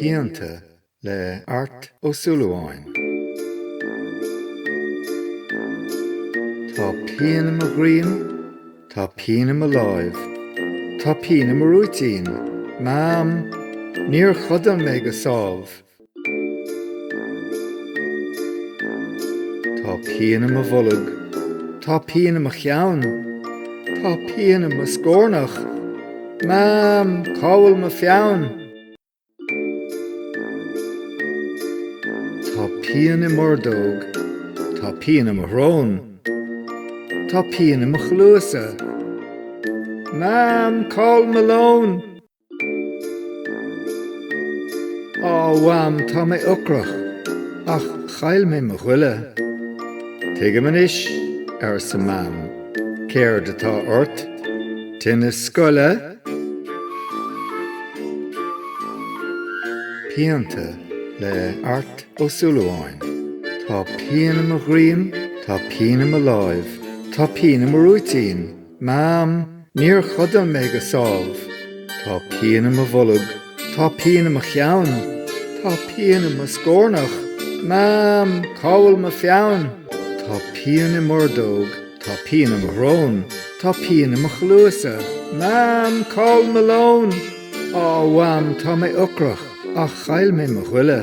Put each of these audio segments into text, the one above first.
Pianta le Art Ó Súilleabháin. Tá pian i mo dhroim, tá pian i mo láimh, tá pian i mo rúitín, Mam, níor chodail mé go sámh. Tá pian i mo bholg, tá pian i mo cheann, tá pian i mo scórnach, Mam, cá bhfuil mo pheann? Tá pian i m'ordóg, tá pian i mo shrón, tá pian i mo chluasa, Mam, cá bhfuil mo lón? Á Mham tá mé ocrach ach chaill mé mo ghoile. Tuigim anois, arsa Mam, céard atá ort, tinneas scoile? Pianta le Art Ó Súilleabháin Tá pian i mo dhroim, tá pian i mo láimh, tá pian i mo rúitín. Mam, Níor chodail mé go sámh. Tá pian i mo bholg. Tá pian i mo cheann. Tá pian i mo scórnach. Mam, cá bhfuil mo pheann? Tá pian i m'ordóg. Tá pian i mo shrón. Tá pian i mo chluasa. Mam, cá bhfuil mo lón? Á, Mham, tá mé ocrach, ach chaill mé mo ghoile.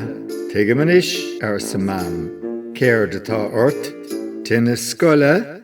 Tuigim anois, arsa Mam. Céard atá ort? Tinneas scoile?